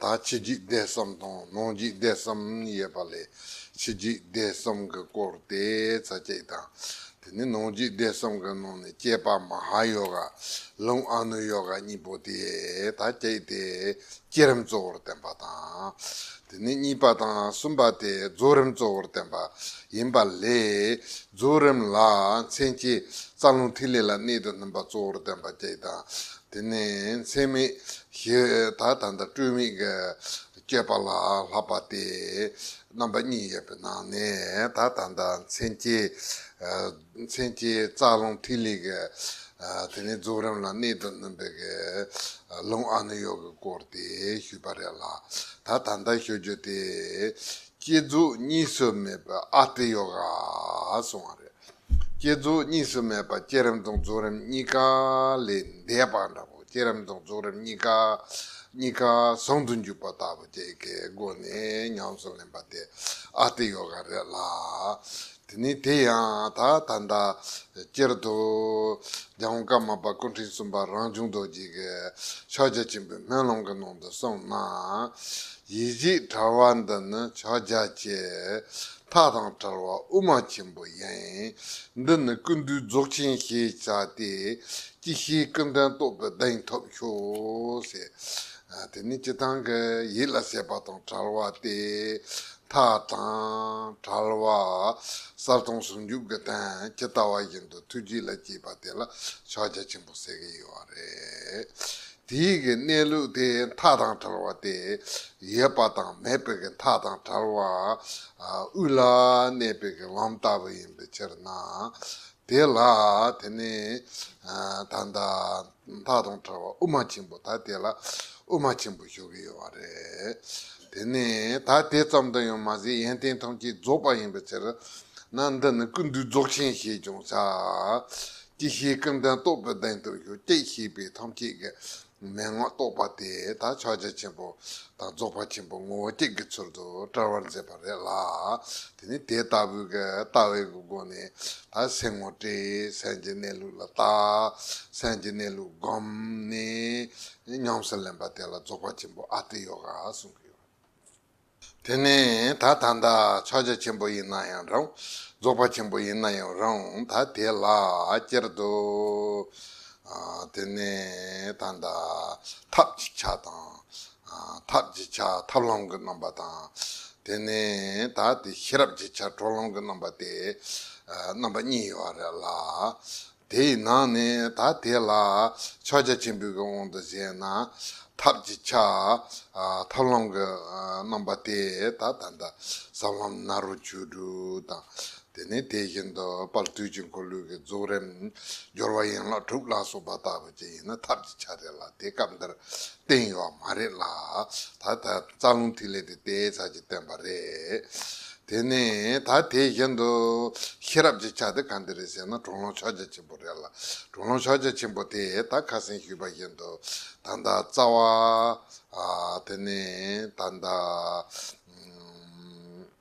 ད་ཕྱི་འཇིག་རྟེན་གསུམ་དང་ནང་འཇིག་རྟེན་གསུམ་ཡོད་པ་ལས་ཕྱི་འཇིག་རྟེན་གསུམ་གྱི་སྐོར་དེ་ཚ་གཅིག་དང། དེ་ནས་ནང་འཇིག་རྟེན་གསུམ་གྱི་ནང་ནས་སྐྱེས་པ་མ་ཧཱ་ཡོ་ག་ལུང་ཨ་ནུ་ཡོ་ག་གཉིས་པོ་དེ་ད་གཅིག་དེ་བསྐྱེད་རིམ་གཙོ་བོར་བསྟན་པ་དང། དེ་ནས་གཉིས་པ་དང་གསུམ་པ་དེ་རྫོགས་རིམ་གཙོ་བོར་བསྟན་པ་ཡིན་པ་ལས་རྫོགས་རིམ་ལ་མཚན་བཅས་རྩ་རླུང་ཐིག་ལེ་ལ་གནད་དུ་བསྣུན་པ་གཙོ་བོར་བསྟན་པ་གཅིག་དང། དེ་ནས་མཚན་མེད་ཞི་དག་དང་སྤྲོས་མེད་ཀྱི་སྤྱོད་པ་ལ་ལྷག་པ་སྟེ་རྣམ་པ་གཉིས་ཡོད་པའི་ནང་ནས་དག་དང་དང་མཚན་སྐྱེས་མཚན་སྐྱེས་རྩ་རླུང་ཐིག་ལེ་ཀ་དེ་ནས་རྫོགས་རིམ་ལ་གནད་དུ་བསྣུན་པའི་ཀ་རླུང་ཨ་ནུ་ཡོ་གི་སྐོར་དེ་ཞུས་པ་རེད་ལ་ད་ད་ལྟ་ཤོད་རྒྱུ་དེ་སྐྱེ་རྫོགས་གཉིས་སུ་མེད་པའི་ཨ་ཏི་ཡོ་ག་གསུང་བ་རེད། བསྐྱེད་རྫོགས་གཉིས་སུ་མེད་པ་བསྐྱེད་རིམ་དང་རྫོགས་རིམ་གཉིས་ཀ་ལས་འདས་པ་འདྲ་བོ་བསྐྱེད་རིམ་དང་རྫོགས་རིམ་གཉིས་ཀ་གཉིས་ཀ་ཟུང་དུ་འཇུག་པ་ལྟ་བུ་བཅས་ཀྱི་སྒོ་ནས་ཉམས་སུ་ལེན་པ་དེ་ཨ་ཏི་ཡོ་ག་རེད་ལ། དེ་ནི་དེ་ཡང་ད་ད་ལྟ་སྤྱིར་དུ་རྒྱལ་བ་ཀརྨ་པ་སྐུ་ཕྲེང་གསུམ་པ་རང་བྱུང་རྡོ་རྗེ་གི་ཕྱག་རྒྱ་ཆེན་པོའི་སྨོན་ལམ་གྱི་ནང་དུ་གསུངས་ན། ཡིད་བཞིན་གྲྭ་བ་འདི་ནི་ཕྱག་རྒྱ་ཆེ། མཐའ་དང་བྲལ་བ་དབུ་མ་ཆེན་པོ་ཡིན། འདི་ནི་ཀུན་འདུས་རྫོགས་ཆེན་ཞེས་བྱ་སྟེ། ཅི་ཞིག་ཀུན་དོན་རྟོགས་པའི་གདེང་ཐོབ་ཤོག། དེ་ནི་སྤྱི་དང་གི་ཡིད་ལ་བྱེད་པ་དང་བྲལ་བ་སྟེ། མཐའ་དང་བྲལ་བ་གསར་དང་ཟུང་འཇུག་གི་དོན་ཇི་ལྟ་བ་བཞིན་དུ་ཐུགས་རྗེ་ལ་བསྐྱེད་པ་དེ་ལ་ཕྱག་རྒྱ་ཆེན་པོ་ཟེར་གྱི་ཡོད་པ་རེད། དེའི་གི་གནས་ལུགས་དེ་མཐའ་དང་བྲལ་བ་སྟེ། ཡོད་པ་དང་མེད་པའི་གི་མཐའ་དང་བྲལ་བ་དབུས་ལ་གནས་པའི་གི་ལམ་ལྟ་བུ་ཡིན་པའི་ཕྱིར་ན། དེ་ལ་དེ་ནི་ད་ལྟ་མཐའ་དང་བྲལ་བ་དབུ་མ་ཆེན་པོ་ད་དེ་ལ་དབུ་མ་ཆེན་པོ་ཞུ་གི་ཡོད་བ་རེད། དེ་ནི་ད་དེ་ཙམ་དུ་ཡང་མ་ཟད་ཡོན་ཏན་ཐམས་ཅད་རྫོགས་པ་ཡིན་པའི་ཕྱིར་ན་འདི་ནི་ཀུན་འདུས་རྫོགས་ཆེན་ཞེས་ཀྱང་བྱ། ཅི་ཞིག་སྐལ་ལྡན་རྟོགས་པའི་གདེང་དུ་གཞུག་ཅེས་བཤད་པའི་ཐམས་ཅད་ཀྱི་མན་ངག་རྟོགས་པ་དེ་དག་ཕྱག་རྒྱ་ཆེན་པོ་དང་རྫོགས་པ་ཆེན་པོ་ངོ་བོ་གཅིག་གི་ཚུལ་དུ་བཀྲལ་བར་མཛད་པ་རེད་ལ། དེ་ནི་དེ་ལྟ་བུའི་ལྟ་བའི་སྒོ་ནས་ད་སེམས་ངོ་སྤྲད་སེམས་ཀྱི་གནས་ལུགས་ལ་བརྟག་སེམས་ཀྱི་གནས་ལུགས་བསྒོམ་ནས་ཉམས་སུ་ལེན་པ་དེ་ལ་རྫོགས་པ་ཆེན་པོ་ཨ་ཏི་ཡོ་ག་གསུང་གི་ཡོད། དེ་ནས་ད་ད་ད་ཕྱག་རྒྱ་ཆེན་པོ་ཡིན་ན་ཡང་རུང། རྫོགས་པ་ཆེན་པོ་ཡིན་ན་ཡང་རུང་ད་དེ་ལ་སྐྱེར་དུ། དེ་ནས་ད་ད་ཐབས་ཅིག་ཆ་དང། ཐབས་ཅིག་ཆ་ཐབས་ལམ་གྱི་རྣམ་པ་དང། དེ་ནས་ད་དེ་ཤེས་རབ་ཅིག་ཆ་གྲོགས་ལམ་གྱི་རྣམ་པ་སྟེ། རྣམ་པ་གཉིས་ཡོད་རེད་ལ། དེ་ཡི་ནང་ནས་ད་དེ་ལ་ཕྱག་རྒྱ་ཆེན་པོའི་དབང་དུ་བྱས་ན། ཐབས་ཀྱི་ཆ། ཐབས་ལམ་གྱི་རྣམ་པ་སྟེ་ད་ད་ད། ཟབ་ལམ་ནཱ་རོ་བཅུ་དྲུག་དང། དེ་ནས་དེ་བཞིན་དུ་དཔལ་བརྟུལ་ཅིང་འཁོར་ལོས་ཀྱི་རྫོགས་རིམ། སྦྱོར་བ་ཡན་ལག་དྲུག་ལ་སོགས་པ་དག་པའི་ཆ་ཡིན་ན་ཐབས་ཀྱི་ཆ་རེ་ལ་དེ་སྐབས་འདིར་བསྟན་ཡོད་མ་རེད་ལ། ད་ལྟ་རྩ་རླུང་ཐིག་ལེ་དེ་དེའི་ཆ་གཅིག་བསྟན་པ་རེད། དེ་ནས་ད་དེ་བཞིན་དུ། ཤེས་རབ་ཀྱི་ཆ་དེ་གང་དེ་རེད་ཟེར་ན་གྲོག་རླུང་ཕྱག་རྒྱ་ཆེན་པོ་རེད་ལ། གྲོག་རླུང་ཕྱག་རྒྱ་ཆེན་པོ་དེས་ད་ཁ་སེང་ཞུས་པ་བཞིན་དུ། ད་ལྟ་རྩ་བ། དེ་ནས་ད་ལྟ།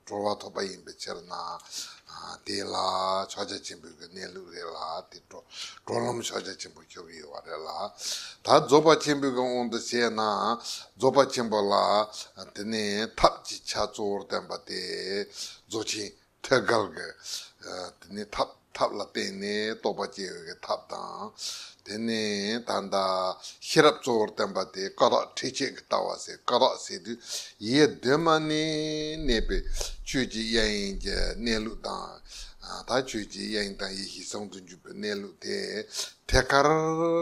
སྤྲོ་བ་ཐོབ་པ་ཡིན་པའི་ཕྱིར་ན། དེ་ལ་ཕྱག་རྒྱ་ཆེན་པོའི་གནས་ལུགས་རེད་ལ་དེ་སྤྲོ་ལམ་ཕྱག་རྒྱ་ཆེན་པོ་ཁྱབ་ཡོད་བ་རེད་ལ། ད་རྫོགས་པ་ཆེན་པོའི་དབང་དུ་བྱས་ན་རྫོགས་པ་ཆེན་པོ་ལ་དེ་ནི་ཐབས་ཀྱི་ཆ་གཙོ་བོར་བསྟན་པ་སྟེ། རྫོགས་ཆེན་ཐེག་དཀར་གྱི་དེ་ནི་ཐབས། ཐབས་ལ་བརྟེན་ནས་རྟོགས་པ་སྐྱེ་བའི་ཐབས་དང། དེ་ནས་ད་ལྟ་ཤེས་རབ་གཙོ་བོར་བསྟན་པ་སྟེ་སྐ་རགས་ཁྲེས་ཆེན་གྱི་ལྟ་བ་ཟད་སྐ་རགས་ཟད་དུས་ཡིད་ཡེ་གདོད་མ་ནས་གནས་པའི་ཆོས་ཀྱི་དབྱིངས་ཀྱི་གནས་ལུགས་དང། ད་ཆོས་ཀྱི་དབྱིངས་དང་ཡེ་ཤེས་གསང་དུ་འཇུག་པའི་གནས་ལུགས་དེ་ཐད་ཀར་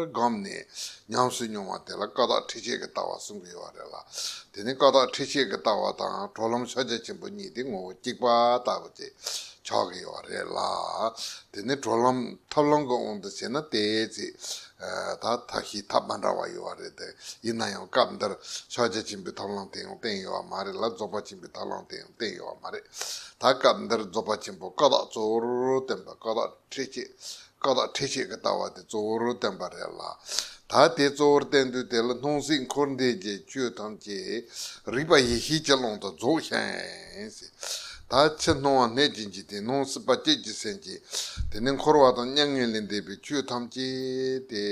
སྒོམ་ནས་ཉམས་སུ་མྱོང་བ་དེ་ལ་སྐ་རགས་ཁྲེས་ཆེན་གྱི་ལྟ་བ་གསུང་གི་ཡོད་རེད་ལ། དེ་ནི་སྐ་རགས་ཁྲེས་ཆེན་གྱི་ལྟ་བ་དང་གྲོགས་ལམ་ཕྱག་རྒྱ་ཆེན་པོ་གཉིས་ཏེ་ངོ་བོ་གཅིག་པ་ལྟ་བུ་སྟེ། ཆགས་ཀྱི་ཡོད་རེད་ལ། དེ་ནི་བགྲོད་ལམ་ཐབས་ལམ་གྱི་དབང་དུ་བྱས་ན་དེའི་ཚེ། ད་ཐབས་ཤེས་ཐབས་མ་འདྲ་བ་ཡོད་པ་རེད་དེ། ཡིན་ན་ཡང་སྐབས་འདིར་ཕྱག་རྒྱ་ཆེན་པོའི་ཐབས་ལམ་དེ་ཡང་བསྟན་ཡོད་པ་མ་རེད་ལ་རྫོགས་པ་ཆེན་པོའི་ཐབས་ལམ་དེ་ཡང་བསྟན་ཡོད་པ་མ་རེད། ད་སྐབས་འདིར་རྫོགས་པ་ཆེན་པོ་ཀ་དག་གཙོ་བོར་བསྟན་པའི་ཀ་དག་ཁྲིད་བྱེད་བཀའ་དག་ཁྲིད་བྱེད་ཀྱི་ལྟ་བ་དེ་གཙོ་བོར་བསྟན་པ་རེད་ལ། ད་དེ་གཙོ་བོར་བསྟན་དུས་དེ་ལ་སྣང་སྲིད་འཁོར་འདས་ཀྱི་ཆོས་ཐམས་ཅད་རིག་པ་ཡེ་ཤེས་ཀྱི་ཀློང་དུ་རྫོགས་ཤིང། ད་ཕྱི་སྣང་བ་མེད་ཅིང་ཅི་སྟེ་སྣང་སྲིད་པ་བསྐྱེད་ཀྱི་སེམས་ཅན། དེ་ནི་འཁོར་བ་དང་མྱ་ངན་ལས་འདས་པའི་ཆོས་ཐམས་ཅད་དེ།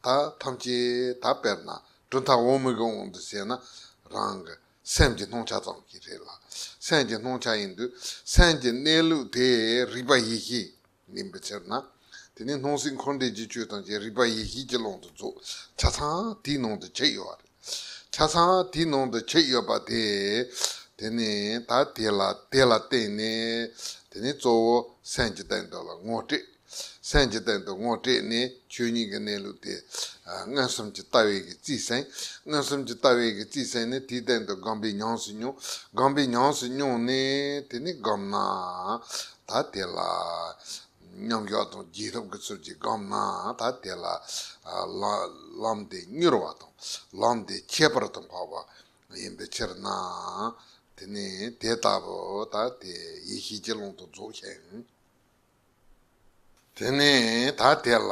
ད་ཐམས་ཅད་ད་དཔེར་ན་གྲུ་མཐའ་འོག་མིག་གི་དབང་དུ་བྱས་ན་རང་གི། སེམས་ཀྱི་སྣང་ཆ་ཙམ་གྱིས་རེད་ལ་སེམས་ཀྱི་སྣང་ཆ་ཡིན་དུས་སེམས་ཀྱི་གནས་ལུགས་དེ་རིག་པ་ཡེ་ཤེས་ཡིན་པའི་ཕྱིར་ན། དེ་ནི་སྣང་སྲིད་འཁོར་འདས་ཀྱི་ཆོས་ཐམས་ཅད་རིག་པ་ཡེ་ཤེས་ཀྱི་ཀློང་དུ་རྫོགས་ཆ་ཚང་དེའི་ནང་དུ་བྱས་ཡོད་པ་རེད། ཆ་ཚང་དེའི་ནང་དུ་བྱས་ཡོད་པ་དེ། དེ་ནི་ད་དེ་ལ་བརྟེན་ནས་དེ་ནི་གཙོ་བོ་སེམས་ཀྱི་བསྟན་དོན་ལ་ངོ་སྤྲད། སེམས་ཀྱི་སྟེང་དུ་ངོ་སྤྲད་ནས་ཆོས་ཉིད་ཀྱི་གནས་ལུགས་དེ། མངོན་སུམ་གྱི་ལྟ་བས་ཀྱི་རྩིས་གསན། མངོན་སུམ་གྱི་ལྟ་བས་ཀྱི་རྩིས་གསན་ནས་དེའི་སྟེང་དུ་སྒོམ་པའི་ཉམས་སུ་མྱོང། སྒོམ་པའི་ཉམས་སུ་མྱོང་ནས་དེ་ནི་སྒོམ་ན། ད་དེ་ལ། མཉམ་གཞག་དང་རྒྱས་ཐོབ་ཀྱི་ཚུལ་གྱིས་སྒོམ་ན་ད་དེ་ལ། ལམ་དེ་མྱུར་བ་དང། ལམ་དེ་ཁྱད་པར་དུ་འཕགས་པ། ཡིན་པའི་ཕྱིར་ན། དེ་ནི་དེ་ལྟ་བུ་ད་དེ་ཡེ་ཤེས་ཀྱི་ཀློང་དུ་རྫོགས་ཤིང། དེ་ནས་ད་དེ་ལ་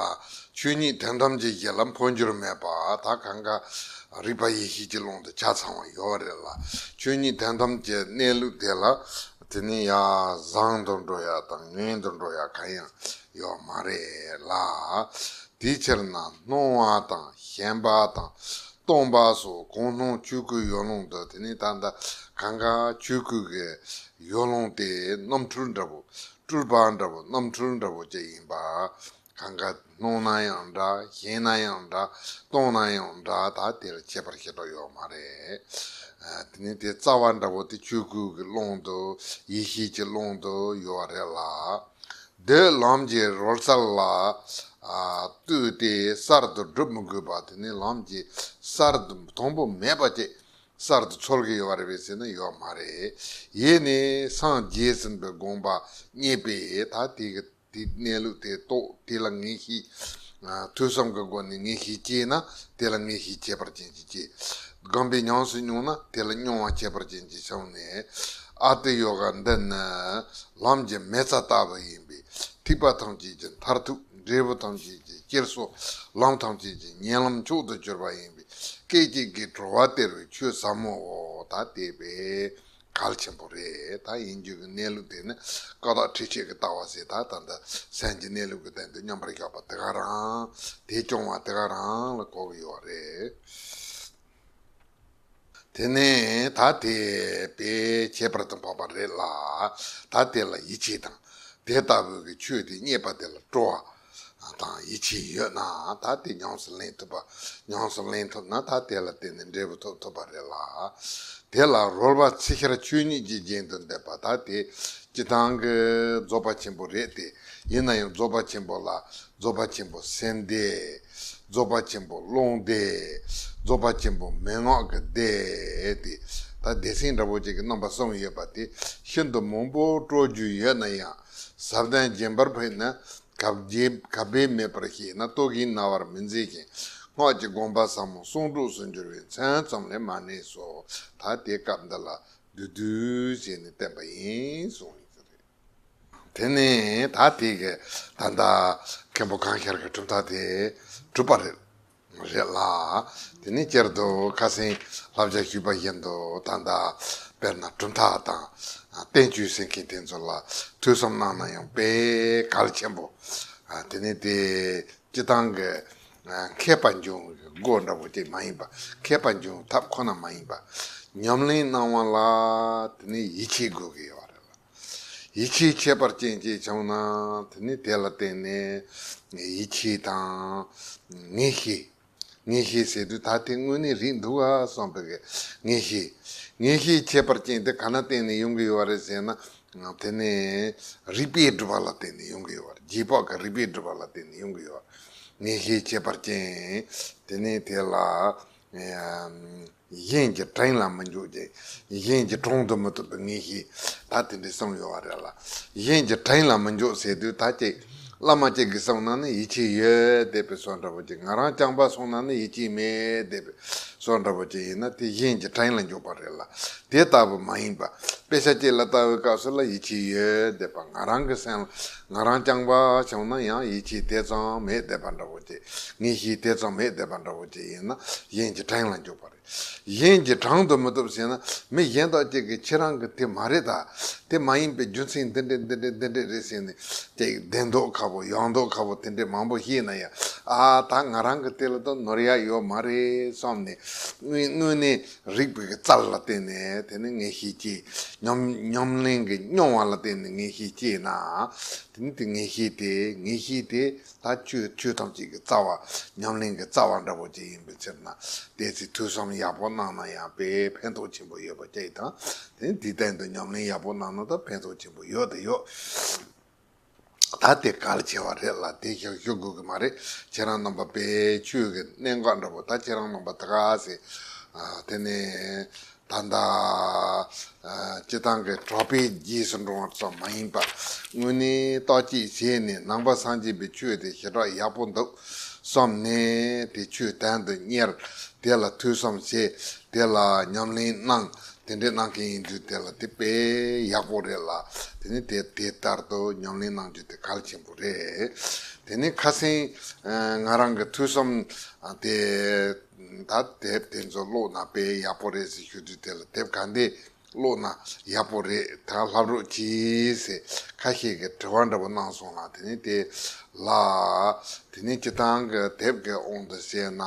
ཆོས་ཉིད་དོན་ཐམས་ཅད་ཀྱི་ལམ་འཕོ་འགྱུར་མེད་པ་ད་གང་ག་རིག་པ་ཡེ་ཤེས་ཀྱི་ཀློང་དུ་ཆ་ཚང་བ་ཡོད་རེད་ལ་ཆོས་ཉིད་དོན་ཐམས་ཅད་གནས་ལུགས་དེ་ལ་དེ་ནས་ཡ་བཟང་དུ་འགྲོ་ཡ་དང་ངན་དུ་འགྲོ་ཡ་གང་ཡང་ཡོད་མ་རེད་ལ། དེའི་ཕྱིར་ན་སྣང་བ་དང་ཞེན་པ་དང་སྟོང་པ་སོགས་གང་སྣང་ཆོས་སྐུའི་ཡོ་ལོང་དུ་དེ་ནས་ད་ད་གང་ག་ཆོས་སྐུ་གི་ཡོ་ལོང་དེ་རྣམ་འཕྲུལ་འདྲ་བོ་སྤྲུལ་པ་འདྲ་བོ་རྣམ་འཕྲུལ་འདྲ་བོ་བཅས་ཡིན་པ། གང་ག་སྣང་ན་ཡང་འདྲ་ཞེན་ན་ཡང་འདྲ་སྟོང་ན་ཡང་འདྲ་ད་དེར་འཆད་པར་ཤེས་རྟོགས་ཡོད་མ་རེད། དེ་ནི་དེ་རྩ་བ་འདྲ་བོ་དེ་ཆོས་སྐུ་གི་ཀློང་དུ་ཡེ་ཤེས་ཀྱི་ཀློང་དུ་ཡོད་བ་རེད་ལ། འདོད་ལམ་གྱི་རོལ་རྩལ་ལ་ལྟོས་ཏེ་གསར་དུ་སྒྲུབ་མི་དགོས་པ་དེ་ནི་ལམ་གྱི་གསར་དུ་དང་པོ་མེད་པ་བཅས་གསར་དུ་འཚོལ་གྱི་ཡོད་པ་རེད་པས་ཟེར་ན་ཡོད་མ་རེད། ཡེ་ནས་སངས་རྒྱས་ཟིན་པའི་དགོངས་པ་རྙེད་པས་ད་དེ་གི་དེ་གནས་ལུགས་དེ་རྟོགས་དེ་ལ་ངེས་ཤེས། ཐོས་བསམ་གྱི་སྒོ་ནས་ངེས་ཤེས་སྐྱེས་ན་དེ་ལ་ངེས་ཤེས་ཁྱད་པར་ཅན་གྱི་སྐྱེ། སྒམ་པའི་ཉམས་སུ་མྱོང་ན་དེ་ལ་མྱོང་བ་ཁྱད་པར་ཅན་གྱི་བྱུང་ནས། ཨ་ཏི་ཡོ་ག་འདི་ནི་ལམ་གྱི་མེ་བཙའ་ལྟ་བུ་ཡིན་པས་ཐིགས་པ་ཐམས་ཅད་ཀྱི་མཐར་ཐུག་འབྲས་བུ་ཐམས་ཅད་ཀྱི་སྐྱེལ་སོ། ལམ་ཐམས་ཅད་ཀྱི་ཉེ་ལམ་མཆོག་ཏུ་གྱུར་པ་ཡིན་པས་སྐད་ཅིག་གིས་འགྲོ་བ་དེར་ཆོས་ཟབ་མོ་འོག་ད་བལྟས་པས་གལ་ཆེན་པོ་རེད་ད་ཡིན་རྒྱུ་གི་གནས་ལུགས་དེ་ནི་ཀ་དག་ཁྲི་ཆད་ཀྱི་ལྟ་བ་ཟེར་ད་ད་འདི་སེམས་ཀྱི་གནས་ལུགས་ཀྱི་སྟེང་དུ་མཉམ་པར་བཞག་པ་དེ་ག་རང་དེ་སྐྱོང་བ་དེ་ག་རང་ལ་གོ་གི་ཡོད་བ་རེད། དེ་ནས་ད་དེ་བས་ཁྱད་པར་དུ་འཕགས་པ་རེད་ལ་ད་དེ་ལ་ཡིད་ཆེས་དང་དེ་ལྟ་བུ་གི་ཆོས་དེ་རྙེད་པ་དེ་ལ་སྤྲོ་བ་དང་ཡིད་ཆེས་ཡོད་ན་ད་དེ་ཉམས་སུ་ལེན་ཐུབ། ཉམས་སུ་ལེན་ཐུབ་ན་ད་དེ་ལ་བརྟེན་ནས་འབྲས་བུ་ཐོབ་ཐུབ་པ་རེད་ལ། དེ་ལ་རོལ་བ་ཚེ་ཤར་ཆོས་ཉིད་ཀྱི་རྒྱན་དུ་འདེབས་པ་ད་དེ་སྤྱི་དང་གི་རྫོགས་པ་ཆེན་པོ་རེད་དེ། ཡིན་ན་ཡང་རྫོགས་པ་ཆེན་པོ་ལ་རྫོགས་པ་ཆེན་པོ་སེམས་བདེ། རྫོགས་པ་ཆེན་པོ་ཀློང་བདེ། རྫོགས་པ་ཆེན་པོ་མན་ངག་གི་བདེ་སྟེ། ད་བདེ་སེམས་འདྲ་བོ་ཅིག་གི་རྣམ་པ་གསུམ་ཡོད་པ་དེ་ཤིན་ཏུ་མང་པོ་སྤྲོ་རྒྱུ་ཡོད་ན་ཡང་ཟབ་གདན་རྒྱན་འབར་བས་ནི་གབ་སྦས་མེད་པར་ཤེས་ན་རྟོག་གིས་རྣ་བར་མི་འཛིན་ཞིང་སྔགས་ཀྱི་དགོངས་པ་ཟབ་མོ་གསུང་དྲུག་སུ་འགྱུར་བའི་མཚན་ཙམ་ལས་མ་གནས་སོ། ད་དེ་སྐབས་འདི་ལ་བདུད་བདུད་ཞེས་ནི་བསྟན་པ་ཡིན་གསུངས། དེ་ནས་ད་དེ་གའི་ད་ལྟ་མཁན་པོ་གངས་ཤར་གྱི་གྲུབ་མཐའ་དེ་གྲུབ་པ་རེད། རེད་ལ། དེ་ནས་བསྐྱར་དུ་ཁ་སེང་བསླབ་བྱ་ཞུས་པ་བཞིན་དུ་ད་ལྟ་དཔེར་ན་གྲུབ་མཐའ་དང་བསྟན་བཅོས་ཟེར་མཁན་དེ་ཚོ་ལ་ཐོས་བསམ་གནང་ན་ཡང་པས་གལ་ཆེན་པོ། དེ་ནས་དེ་སྤྱི་བཏང་གི་མཁས་པ་འབྱུང་བའི་སྒོ་འདྲ་བོ་དེ་མ་ཡིན་པ་མཁས་པ་འབྱུང་ཐབས་ཁོ་ན་མ་ཡིན་པ་ཉམས་ལེན་གནང་བ་ལ་དེ་ནས་ཡིད་ཆེས་དགོས་ཀྱི་ཡོད་རེད་ལ། ཡིད་ཆེས་ཁྱད་པར་ཅན་ཅེས་བྱུང་ན་དེ་ནི་དེ་ལ་བརྟེན་ནས་ཡིད་ཆེས་དང། ངེས་ཤེས། ངེས་ཤེས་ཟེར་དུས་ད་དེ་དངོས་གནས་རིགས་འདུག་ཨ་བསམ་པའི་གི་ངེས་ཤེས། ངེས་ཤེས་ཁྱད་པར་ཅན་དེ་ག་ན་བརྟེན་ནས་ཡོང་གི་ཡོད་རེད་ཟེར་ན་དེ་ནི་རིགས་པས་སྒྲུབ་པ་ལ་བརྟེན་ནས་ཡོང་གི་ཡོད་རེད་རྗེས་དཔག་གི་རིགས་པས་སྒྲུབ་པ་ལ་བརྟེན་ནས་ཡོང་གི་ཡོད་རེད། ངེས་ཤེས་ཁྱད་པར་ཅན་དེ་ནི་དེ་ལ། གཞན་གྱི་བྲིང་ལ་མི་འཇུག་ཅིང། གཞན་གྱི་དྲུང་དུ་མི་ཐུག་པའི་ངེས་ཤེས་ད་དེ་འདྲའི་བསམ་ཡོད་བ་རེད་ལ། གཞན་གྱི་བྲིང་ལ་མི་འཇུག་ཟེར་དུས་ད་ཅིག་བླ་མ་གཅིག་གིས་གསུངས་ན་ནི་ཡིད་ཆེས་ཡོད་བསྡད་པའི་བཟོ་འདྲ་བོ་ཅིག་ང་རང་རྐྱང་པ་གསུངས་ན་ནི་ཡིད་ཆེས་མེད་བསྡད་པའི་བཟོ་འདྲ་བོ་ཅིག་ཡིན་ན་དེ་གཞན་གྱི་བྲིང་ལ་འཇུག་པ་རེད་ལ་དེ་ལྟ་བུ་མ་ཡིན་པ་དཔེ་ཆ་གཅིག་ལ་ལྟ་བའི་སྐབས་སུ་ལ་ཡིད་ཆེས་ཡོད་བསྡད་པ་ང་རང་གི་སེམས་ལ་ང་རང་རྐྱང་པ་བྱུང་ན་ཡང་ཡིད་ཆེས་དེ་ཙམ་མེད་བསྡད་པ་འདྲ་བོ་ཅིག་ངེས་ཤེས་དེ་ཙམ་མེད་བསྡད་པ་འདྲ་བོ་ཅིག་ཡིན་ན་གཞན་གྱི་བྲང་ལ་འཇུག་པ་རེད། གཞན་གྱི་བྲང་དུ་མི་ཐུབ་ཟེར་ན་མི་གཞན་དག་ཅིག་གིས་ཁྱེད་རང་གི་དེ་མ་རེད་ད་དེ་མ་ཡིན་པའི་རྒྱུ་མཚན་འདི་འདྲས་འདི་འདྲས་འདི་འདྲས་རེད་ཟེར་ནས་ཅིག་བདེན་མདོག་ཁ་བོ་ཡག་མདོག་ཁ་བོ་དེ་འདྲས་མང་པོ་ཤེས་ན་ཡང་ཨ་ད་ང་རང་གི་དེ་ལ་ད་ནོར་ཡག་ཡོད་མ་རེད་བསམ་ནས་དངོས་གནས་རིགས་པའི་རྩལ་ལ་བརྟེན་ནས་དེ་ནི་ངེས་ཤེས་སྐྱེ། ཉམས་ལེན་གྱི་མྱོང་བ་ལ་བརྟེན་ནས་ངེས་ཤེས་སྐྱེས་ན། དེ་ནི་དེ་ངེས་ཤེས་ཏེ་ངེས་ཤེས་དེ་ད་ཁྱོད་ཆོས་ཐམས་ཅད་ཀྱི་རྩ་བ་ཉམས་ལེན་གྱི་རྩ་བ་འདྲ་བོ་ཅིག་ཡིན་པའི་ཕྱིར་ན། དེའི་ཚེ་ཐོས་བསམ་ཡག་པོ་གནང་ན་ཡང་དཔེ་ཕན་ཐོགས་ཆེན་པོ་ཡོད་པ་སྐྱེ་དང། དེ་ནི་དེའི་སྟེང་དུ་ཉམས་ལེན་ཡག་པོ་གནང་ན་ད་ཕན་ཐོགས་ཆེན་པོ་ཡོད་དེ་ཡོད། ད་དེ་གལ་ཆེ་བ་རེད་ལ་དེ་ཞག་ཞུ་དགོས་ཀྱི་མ་རེད་ཁྱེད་རང་རྣམ་པ་དཔེ་ཆོས་ཀྱི་གནད་འགག་འདྲ་པོ་ད་ཁྱེད་རང་རྣམ་པ་ད་ག་ཟེ་དེ་ནས་ད་ད་སྤྱི་ཐང་གི་གྲོགས་པའི་རྗེས་སུ་འགྲོ་བ་ཙམ་མ་ཡིན་པར་དངོས་གནས་ལྟོ་ཅེས་བྱས་ནས་ནང་པ་སངས་རྒྱས་པའི་ཆོས་དེ་ཞེ་དྲག་ཡག་པོ་འདུག་བསམ་ནས་དེ་ཆོས་དན་དུ་གཉེར་དེ་ལ་ཐོས་བསམ་བྱས་དེ་ལ་ཉམས་ལེན་གནང་དེ་འདྲའི་གནང་མཁན་ཡིན་ཚུལ་དེ་ལ་དེ་དཔེ་ཡག་པོ་རེད་ལ་དེ་ནས་དེ་དེ་ལྟར་དུ་ཉམས་ལེན་གནང་རྒྱུ་དེ་གལ་ཆེན་པོ་རེད། དེ་ནས་ཁ་སེང་ང་རང་གི་ཐུགས་བསམ་དེ་ད་དེབ་དེ་ཚོ་ཀློག་ན་དཔེ་ཡག་པོ་རེད་ཟེར་ཞུ་དུས་དེ་ལ་དེབ་ག་འདི་ཀློག་ན་ཡག་པོ་རེད་ད་ལྷབ་རོགས་གྱིས་ཟེར་ཁ་ཤས་ཀྱི་དྲི་བ་འདྲ་པོ་གནང་སོང་ལ་དེ་ནས་དེ་ལ་དེ་ནས་སྤྱི་སྟངས་ཀྱི་དེབ་གི་དབང་དུ་བཤད་ན།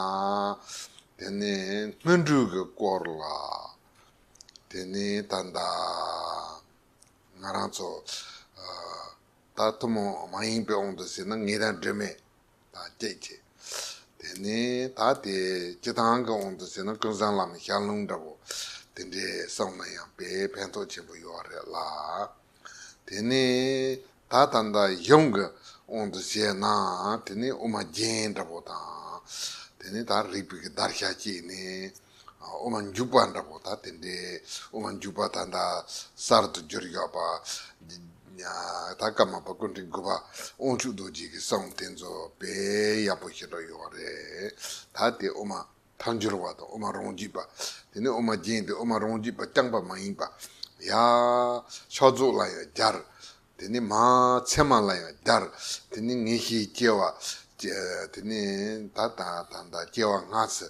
དེ་ནས་སྔོན་འགྲོས་ཀྱི་སྐོར་ལ། དེ་ནས་ད་ལྟ་ང་རང་ཚོ་ད་ཐུན་མོང་མ་ཡིན་པའི་དབང་དུ་ཟིན་ན་ངེད་རང་སྒྲོལ་མས་ད་སྐྱེད་ཀྱི། དེ་ནས་ད་དེ་སྤྱི་དང་གི་དབང་དུ་ཟིན་ན་ཀུན་བཟང་ལམ་ཞགས་ལུང་འདྲ་བོ་དེ་འདྲའི་བསམ་ན་ཡང་དཔེ་ཕན་ཐོགས་ཆེན་པོ་ཡོད་རེད་ལ། དེ་ནས་ད་ད་ལྟ་གཞུང་གི་དབང་དུ་བྱས་ན་དེ་ནི་དབུ་མ་རྒྱན་འདྲ་པོ་དང། དེ་ནི་ད་རིག་པའི་བརྡར་ཤ་བཅད་ནས་དབུ་མ་འཇུག་པ་འདྲ་པོ་ད་དེ་འདྲའི་དབུ་མ་འཇུག་པ་ད་ད་གསར་དུ་འགྱུར་ཡོད་པ། ད་སྐར་མ་པ་ཀུན་དྲིན་དགུ་པ་དབང་ཕྱུག་རྡོ་རྗེ་གི་གསུང་དེ་ཚོ་དཔེ་ཡག་པོ་ཞིག་འགྲོ་ཡོང་བ་རེད་ད་དེ་དབུ་མ། མཐའ་འབྱོར་བ་དང་དབུ་མ་རང་རྒྱུད་པ། དེ་ནས་དབུ་མ་རྒྱན་ཏེ་དབུ་མ་རང་རྒྱུད་པ་རྐྱང་པ་མ་ཡིན་པ། ཡ། ཕྱག་རྫོགས་ལ་ཡང་སྦྱར། དེ་ནས་མ། མཚན་མ་ལ་ཡང་སྦྱར། དེ་ནས་ངེས་ཤེས་སྐྱེ་བ། དེ་ནས་ད་ལྟ་དང་ད་སྐྱེ་བ་སྔ་ཚེ།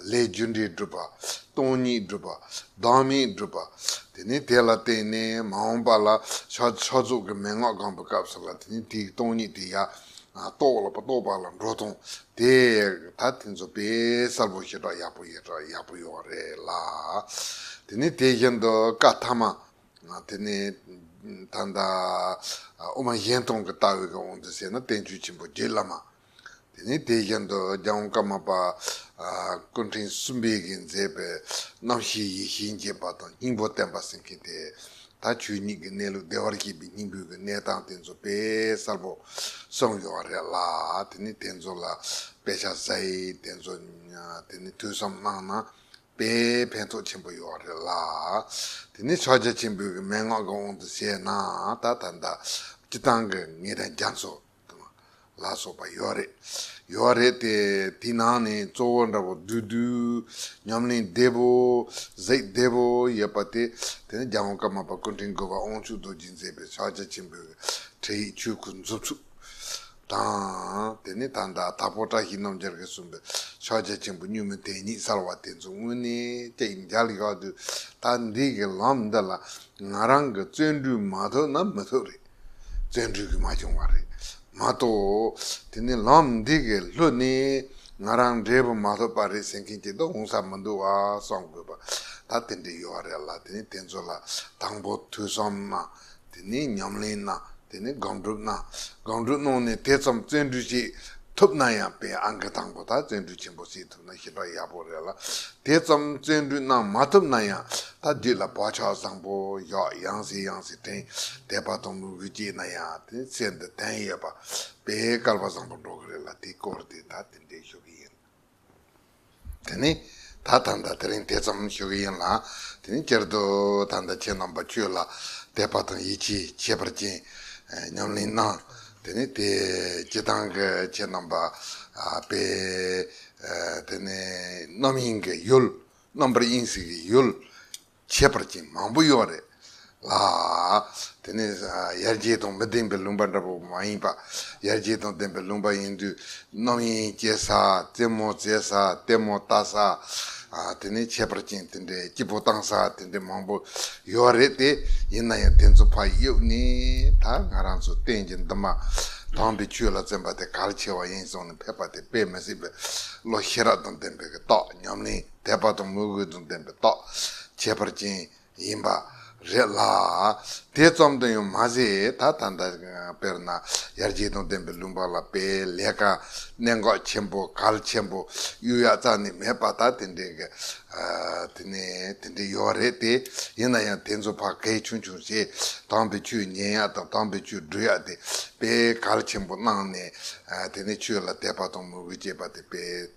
ལས་རྒྱུ་འབྲས་བསྒྲུབ་པ། སྟོང་ཉིད་བསྒྲུབ་པ། བདག་མེད་བསྒྲུབ་པ། དེ་ནས་དེ་ལ་བརྟེན་ནས་མ་འོངས་པ་ལ། ཕྱག་རྫོགས་ཀྱི་མན་ངག་དགང་པའི་སྐབས་སུ་ལ་དེ་ནས་དེའི་སྟོང་ཉིད་དེ་ཡ། རྟོགས་ལ་རྟོགས་པ་ལ་འགྲོ་ཐོང་དེ་ད་དེ་ཚོ་དཔེ་གསར་བོ་ཞེ་དྲག་ཡག་པོ་ཡག་པོ་ཡོད་པ་རེད་ལ། དེ་ནི་དེ་བཞིན་དུ་བཀའ་ཐ་མ་དེ་ནི་ད་ལྟ་དབུ་མ་གཞན་སྟོང་གི་ལྟ་བའི་དབང་དུ་བྱས་ན་བསྟན་བཅོས་ཆེན་པོ་རྗེ་བླ་མ་དེ་ནི་དེ་བཞིན་དུ་རྒྱལ་དབང་བཀའ་མ་པ་སྐུ་ཕྲེང་གསུམ་པས་ཀྱིས་མཛད་པའི་རྣམ་བཤད་ཡེ་ཤེས་འབྱེད་པ་དང་སྙིང་པོ་བསྟན་པ་ཟེར་མཁན་དེ་ད་ཆོས་ཉིད་ཀྱི་གནས་ལུགས་བདེ་བར་གཤེགས་པའི་སྙིང་པོའི་གནས་སྟངས་དེ་ཚོ་དཔེ་གསར་པོ་གསུངས་ཡོད་པ་རེད་ལ་དེ་ནི་དེ་ཚོ་ལ་དཔེ་ཆ་བཟའི་དེ་ཚོ་དེ་ནི་ཐོས་བསམ་གནང་ན་དཔེ་ཕན་ཐོགས་ཆེན་པོ་ཡོད་རེད་ལ་དེ་ནི་ཕྱག་རྒྱ་ཆེན་པོའི་མན་ངག་གི་དབང་དུ་བྱས་ན་ད་ད་ལྟ་སྤྱི་བཏང་གི་ངེད་རང་རྒྱ་མཚོ། ལ་སོགས་པ་ཡོད་རེད། ཡོད་བ་རེད་དེ། དེའི་ནང་ནས་གཙོ་བོ་འདྲ་པོ་བདུད་བདུད། ཉམས་ལེན་བདེ་པོ། གཟིགས་བདེ་པོ་ཡོད་པ་དེ། དེ་ནི་རྒྱལ་བོ་ཀརྨ་པ་སྐུ་ཕྲེང་དགུ་བ་དབང་ཕྱུག་རྡོ་རྗེས་མཛད་པའི་ཕྱག་རྒྱ་ཆེན་པོའི་ཁྲིད་ཡིག་ཆོས་སྐུའི་མཛུབ་ཚུགས། དང། དེ་ནས་ད་ལྟ་དྭགས་པོ་བཀྲ་ཤིས་རྣམ་རྒྱལ་གྱིས་གསུངས་པའི་ཕྱག་རྒྱ་ཆེན་པོ་བསྙུན་མི་དེ་ཉིད་གསར་བ་དེ་ཚོ་དངོས་གནས་ཀྱི་མཇལ་ཡོད་དུས་ད་འདི་གི་ལམ་འདི་ལ་ང་རང་གི་བརྩོན་འགྲུས་མ་ཐོབ་ན་མི་ཐུབ་རེད། བཙན་འཁྲུལ་གྱིས་མ་བྱུང་བ་རེད་མ་གཏོགས། དེ་ནི་ལམ་འདི་གའི་ལྷོད་ནས་ང་རང་འབྲས་བུ་མ་ཐོབ་པ་རེད་ཟེར་མཁན་གྱི་དོགས་སློང་ས་མི་འདུག་བ་བསམ་དགོས་པ་ད་དེ་འདྲས་ཡོད་བ་རེད་ལ་དེ་ནི་དེ་ཚོ་ལ་དང་པོ་ཐོས་བསམ་གནང་དེ་ནས་ཉམས་ལེན་གནང་དེ་ནས་དགག་སྒྲུབ་གནང་དགག་སྒྲུབ་གནང་ནས་དེ་ཙམ་བཙན་འཁྲུལ་བྱེད་ཐུབ་ན་ཡང་དཔེ་ཨང་ཀི་དང་པོ་དག་བཙན་འཁྲུལ་ཆེན་པོ་བྱེད་ཞིབ་པ་ཡག་པོ་རེད་ལ་དེ་ཙམ་བརྩོན་འགྲུས་གནང་མ་ཐུབ་ན་ཡང་ད་འདི་ལ་བག་ཆགས་བཟང་པོ་ཡོག་ཡང་སྲིད་ཡང་སྲིད་དྲན་བསྡད་པ་དང་མོས་གུས་སྐྱེས་ན་ཡང་དེ་ཚེ་འདི་དན་ཡོད་པ་པས་སྐལ་པ་བཟང་པོ་འགྲོ་གི་རེད་ལ་དེ་སྐོར་དེ་ད་དེ་འདྲས་ཞུ་གི་ཡིན། དེ་ནི་ད་ད་ད་དེ་རིང་དེ་ཙམ་ཞུ་གི་ཡིན་ལ་དེ་ནི་སྤྱིར་དུ་ད་ད་ཁྱེད་རྣམ་པ་ཆོས་ལ་དད་པ་དང་ཡིད་ཆེས་ཁྱད་པར་ཅན་ཉམས་ལེན་གནང་དེ་ནས་དེས་སྐྱེ་དང་གི་ཆེ་རྣམ་པ་སྤེལ། དེ་ནས་རྣམ་གཡེང་གི་ཡུལ་རྣམ་པར་གཡེང་སྲིད་ཀྱི་ཡུལ། ཁྱད་པར་ཅན་མང་པོ་གཡོག་རེ་ལ། དེ་ནས་ཡར་སྐྱེས་དང་མི་ལྡན་པའི་ལུང་པ་འདྲ་པོ་མ་ཡིན་པ། ཡར་སྐྱེས་དང་ལྡན་པའི་ལུང་པ་ཡིན་དུས་རྣམ་གཡེང་སྐྱེ་ས། རྩེད་མོ་རྩེ་ས། ལྟད་མོ་ལྟ་ས། དེ་ནས་ཁྱད་པར་ཅན་དེ་འདྲའི་སྐྱིད་པོ་བཏང་ས་དེ་འདྲའི་མང་པོ་ཡོད་རེད་དེ། ཡིན་ན་ཡང་དེ་ཚོ་ཕ་ཡུལ་ནས་ད་ང་རང་ཚོ་གཏན་གྱི་འདི་མ་དྭངས་པའི་ཆུ་ལ་བཙན་པ་དེ་གལ་ཆེ་བ་ཡིན་སོང་ནས་ཕེབས་པ་དེ་དཔེ་མི་སྲིད་པའི་བློ་ཤེས་རབ་དང་ལྡན་པའི་གི་རྟོགས་ཉམས་ལེན་དད་པ་དང་མོས་གུས་དང་ལྡན་པའི་རྟོགས་ཁྱད་པར་ཅན་ཡིན་པ་རེད་ལ། དེ་ཙམ་དུ་ཡང་མ་ཟད་ད་ལྟ་འདི་དཔེར་ན་ཡར་རྒྱས་དང་ལྡན་པའི་ལུང་པ་ལ་དཔེ་ལེགས་ཀ་གནད་འགག་ཆེན་པོ་གལ་ཆེན་པོ་གཡུ་ཡག་ཙག་ནི་མེད་པ་ད་དེ་འདྲའི་གལ་དེ་ནས་དེ་འདྲའི་ཡོད་རེད་དེ་ཡིན་ན་ཡང་དེ་ཚོ་ཕ་གལ་ཆུང་ཆུང་ཞེས་དྭངས་པའི་ཆུས་ཉན་ཡག་དང་དྭངས་པའི་ཆུས་འགྲུལ་ཡག་དེ་དཔེ་གལ་ཆེན་པོ་གནང་ནས་དེ་ནས་ཆོས་ལ་དད་པ་དང་མོས་གུས་བསྐྱེད་པ་དེ་དཔེ།